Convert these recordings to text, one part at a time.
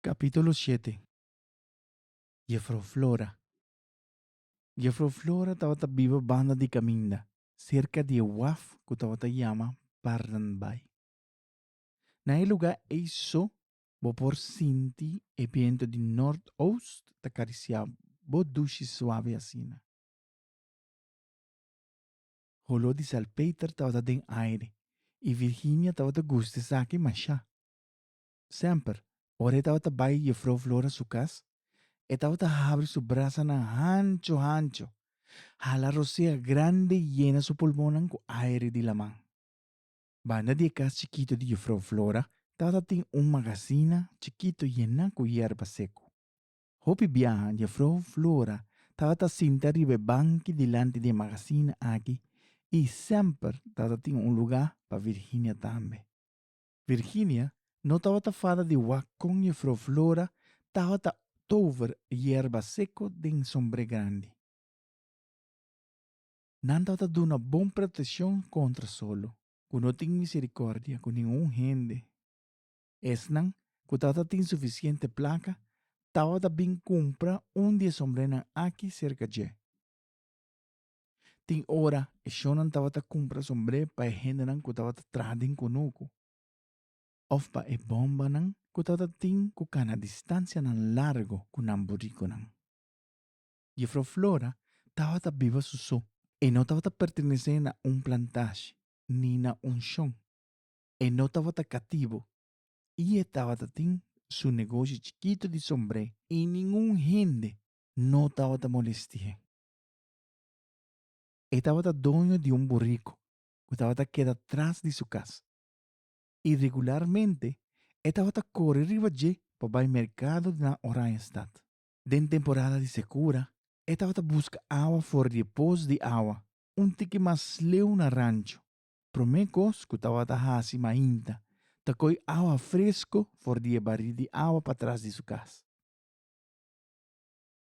Capítulo shete. Jefro Flora Jefro Flora tabata biba banda di caminda, cerca di e waf cu tabata yama Barren Bay. Na e lugar ey so bo por sinti e biento di noord-oost ta carisia bo dushi suave asina. Holor di salpeter tabata den aire y Virginia tabata gusta esaki masha. Semper, ora e tabata bai Jufrou Flora su cas, e tabata habri su brasanan hancho hancho, hala rosea grandi i yena su pulmonnan cu aire di laman. Banda di e cas chikito di Jufrou Flora tabata tin un magazina chikito yena cu yerba seco. Hopi biaha Jufrou Flora tabata sinta riba e banki dilanti di e magazina aki i semper tabata tin un lugar pa Virginia tambe. Virginia no tabata fada di wak kon Jefrouw Flora tabata tover yerba seko den sombre grandi. Nan tabata duna bon proteccion contra solo, cu no tin misericordia cu ningun hende. Esnan cu tabata tin suficiente placa tabata bin cumpra un di e sombrenan aki cerca dje. Tin ora e shonnan tabata kumpra sombré pa e hendenan ku tabata traha den kunuku òf pa e bòmbanan ku tabata tin ku kana distansianan largu ku nan burikunan. Jefrou Flora tabata biba su so. E no tabata pertenesé na un plantashi ni na un shon. E no tabata katibu i e tabata tin su negoshi chikitu di sombré i ningun hende no tabata molestié. E tabata doño di un buriku ku tabata keda tras di su kas. I regularmente e tabata kore riba dje pa bai merkado na Oranjestad. Den temporada di sekura e tabata buska awa for di e pos di awa un tiki mas leu na rancho. Promé kos ku tabata hasi mainta ta koi awa fresko for di e barí di awa pa tras di su kas.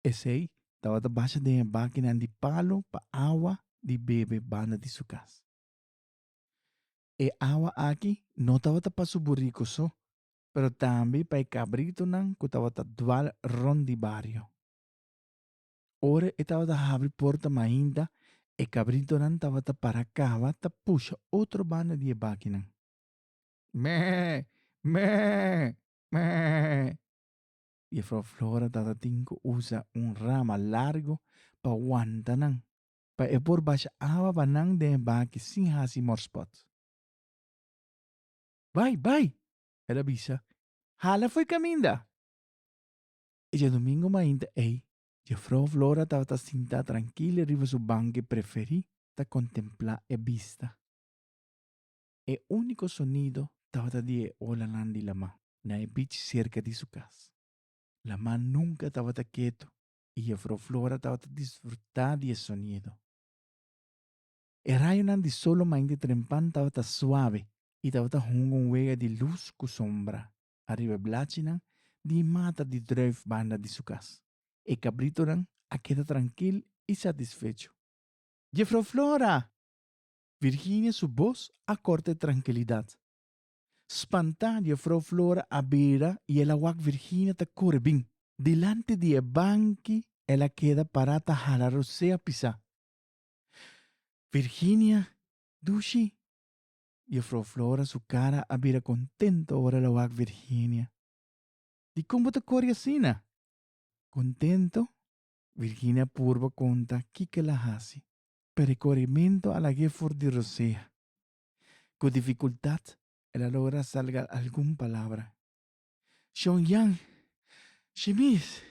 Esei tabata basha den e bakinan di palu pa awa di bebe banda di su kas. E awa aki no tabata pa su buriku so, pero tambe pa e kabritunan ku tabata dwal rònt di bario. Ora e tabata habri porta mainta, e kabritunan tabata para kaba ta pusha otro banda di e bakinan. Mèè! Mèè! Mèè! Jefrouw Flora tatatin ku usa un rama largu pa wanta nan, pa e por basha awa pa nan den e baki sin hasi morspòt. Bai, bai! el a bisa. Hala fo'i kaminda! E diadumingu mainta ei, Jefrouw Flora tabata sintá trankila riba su banki preferí ta kontemplá e bista. E úniko sonido tabata di e olanan di Lamá na e bich serka di su kas. Lamá nunka tabata ketu i jefrouw Flora tabata disfrutá di e sonido. E rayonan di sol lo mainti trempan tabata suave i tabata hunga un wega di lus ku sombra ariba e blachinan di e mata di drùif banda di su kas. E kabritonan a keda trankil i satisfecho. Jefrouw Flora! Virginia su bos a kort e trankilidat. Spantá di e frou Flora a bira i el a wak Virginia ta kore bin. Dilanti di e banki el a keda pará ta hala rosé a pisá. Virginia, Dushi! Di e frou Flora su kara a bira kontento ora el a wak Virginia. Dikon bo ta kore asina? Kontento? Virginia a purba konta kiko el a hasi. pero e korimentu a lag'é for di rosea. Ku difikultat el a logra salga algun palabra. Shon Yan, Shimis!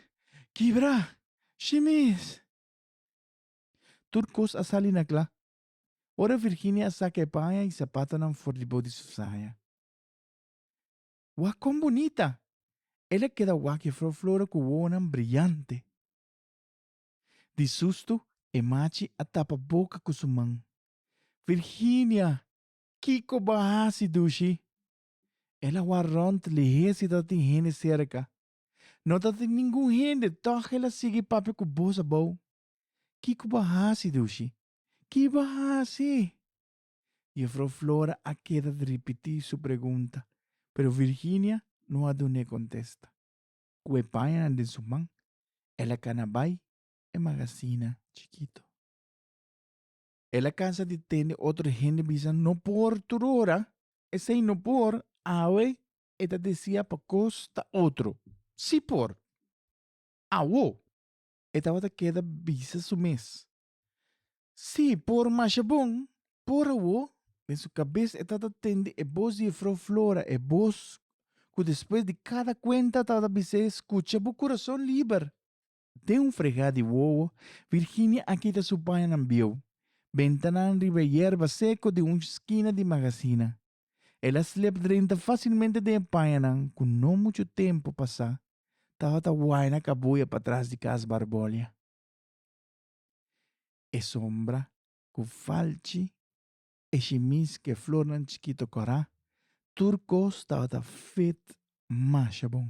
Kibrá! Shimis! Tur kos a sali na kla. Ora Virginia a saka e paña i sapatonan for di bo di su saya. Wak kon bunita! El a keda wak e flor flora ku wowonan briante. Di sustu e machi a tapa boca cu su man. Virginia! Kico bo a haci, Dushi? El a war rond lihé si tatin hende cerca. No tatin ningun hende, tog el a sigui papia cu boz abou. Kico bo a haci, Dushi? Ki bo a haci? Jufrouw Flora a keda di ripití su pregunta, pero Virginia no a dun'é contesta. ku e pañanan den su man, el a kana bai e magasina chikito. El a kansa di tende otro hende bisa no por tur ora, esei no por, awe e ta desia pa kos ta otro si por. Awo, e tabata keda bisa su mes, Sí, por masha bon, por awo, den su kabes e tabata tende e bos di Jefrouw Flora, e bos ku despues di kada kuenta tabata bis'é, Skucha bo kurason liber! Den un fregá di wowo, Virginia a kita su pañanan bieu, bentanan riba e yerba seko di un skina di magasina. El a slep drenta fásilmente den e pañanan ku no muchu tempu pasá tabata waina kabuya patras di kas Barbolia. E sombra cu falchi e shimis cu e flornan chikito corá, tur cos tabata feet masha bon.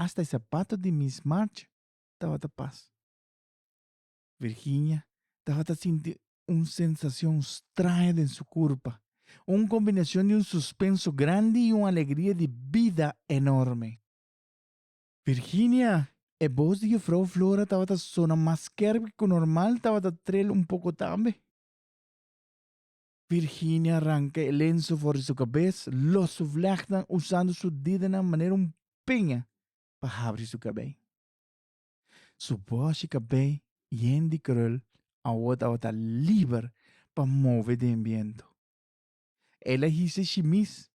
Hasta e sapato di Miss March tabata pas. Virginia tabata sinti un sensacion straño den su curpa, un combinacion di un suspenso grandi y un alegria di bida enorme. Virginia! E bos di Jufrou Flora tabata sona mas skerp ki ku normal, tabata trel un poko tambe. Virginia ranka e lenso for di su kabes, los su vlechtnan usando su didenan manera un piña pa habri su kabei. Su boshi kabei yen di krul awo tabata liber pa move den biento. El a hise shimis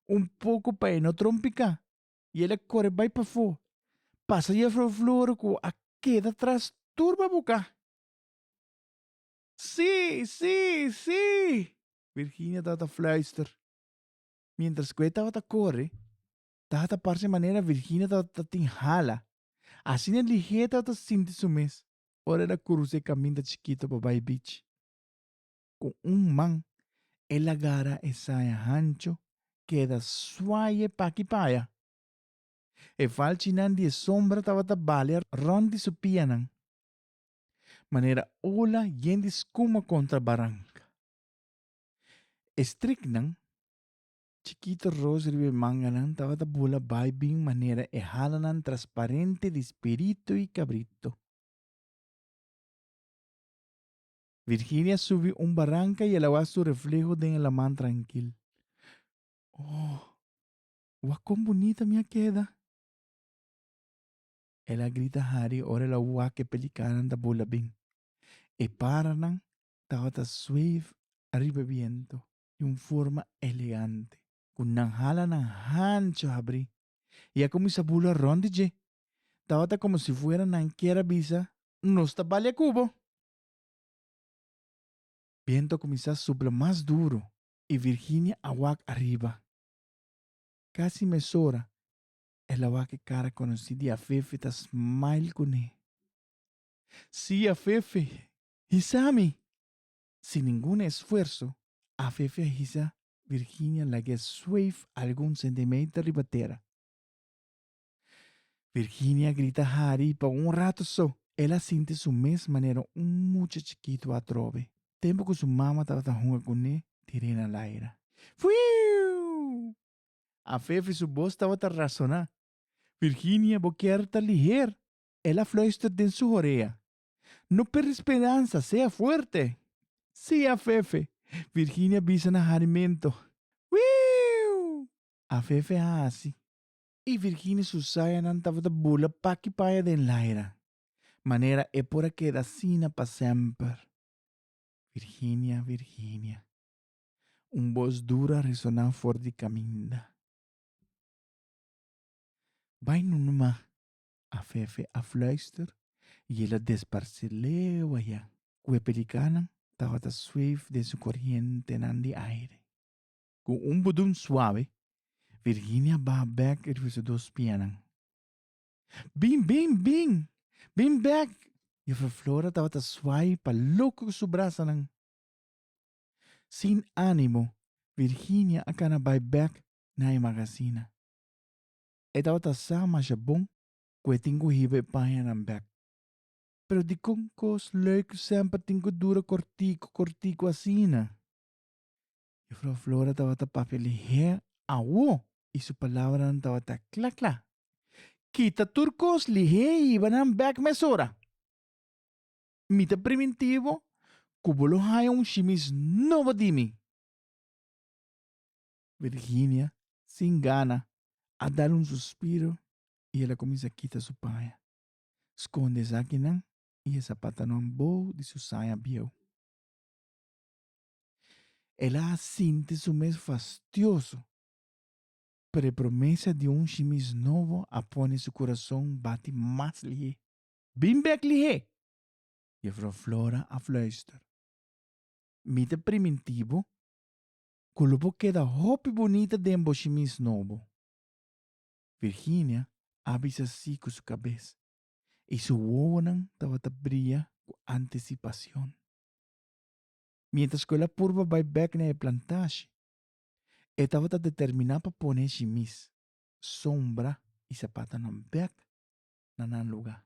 un poko pa e no trompiká, y el a core bay pafo, pasa Juffrouw Floor cu a keda tras turba buca. Si! Si! Si! Virginia tabata fluister. Mientras cu e tabata core, tabata parce manera Virginia tabata tin hala. Asina liher tabata sinti su mes ora el a curuza e caminda chikito pa bay beach. cu un man, el a gara e saya hancho keda suaye paki paya. E falchinan di e sombra tabata balia rond di su pianan, manera ola yen di scuma contra baranca. E striknan, chikito roos riba e manganan, tabata bula bai bin manera e halanan transparente di spiritu y cabrito. Virginia subi un baranka i el a wak su refleho den e laman trankil. Oh, wak kon bunita mi a keda! El a grita hari ora el a wak e pelikanan ta bula bin. E paranan tabata sweef ariba e bientu di un forma elegante, ku nan hala nan hancho habri i a kuminsá bula rònt di dje. Tabata komo si fuera nan kier a bisa, Nos ta bali a Kubo! Bientu a kuminsá supla mas duru i Virginia a wak ariba. Kasi mesora el a wak e kara konosí di Afefe ta smile kuné. Sí, Afefe, hisa mi! Sin ningun esfuerso, Afefe a hisa Virginia lag'é sweef algun sentimeter riba tera. Virginia grita hari pa un rato so. El a sinti su mes manera un mucha chikitu atrobe, tempu ku su mama tabata hunga kuné di Rena Laira. Fuiiuu! A fefe su bos tabata rasoná. Virginia, bo kier ta liher! El a fluister den su horea. No perde speransa, sea fuerte! Sí, a fefe! Virginia bisa na hari mento. Fuiiuu! A fefe a hasi. E virgine Susayanan tabata bula paki paya den laira, manera e por a keda asina pa semper. Virginia, Virginia. Un bos duru a resoná for di kaminda. Bai nu numa, a Fefe a fluister, i el a desparse leu aya, ku e pelikanan tabata sweef den su korientenan di aire. Ku un budum suave, Virginia baha bèk riba su dos pianan. Bin, bin, bin! Bin bèk! Jufrou Flora tabata suai pa loko ku su brasanan. Sin ánimo, Virginia a kana bai bèk na e magasina. E tabata sa masha bon ku e tin ku hiba e pañanan bèk. Pero dikon kos lei ku semper tin ku dura kòrtiku, kòrtiku asina? Jufrou Flora tabata papia lihé awo i su palabranan tabata kla kla. Kita tur kos lihé i hiba nan bèk mesora. Mi ta primintivo ku bo lo haña un shimis nobo di mi. Virginia, sin gana, a dal un suspiro i el a kuminsá kita su paña. Skonde esakinan i e sapatanan bou di su saña bieu. El a sinti su mes fastioso, pero e promesa di un shimis nobo a pone su kurason bati mas lihé. Bin bek lihé! Jefrouw Flora a fluister. Mi ta priminti bo ku lo por keda hopi bunita den bo shimis nobo. Virginia a bisa sí ku su kabes, i su wowonan tabata bria ku antisipason. Mientras cu el a purba bay bek na e plantashi, e tabata determina pa pone e shimis, sombra y sapatanan bek na nan lugar.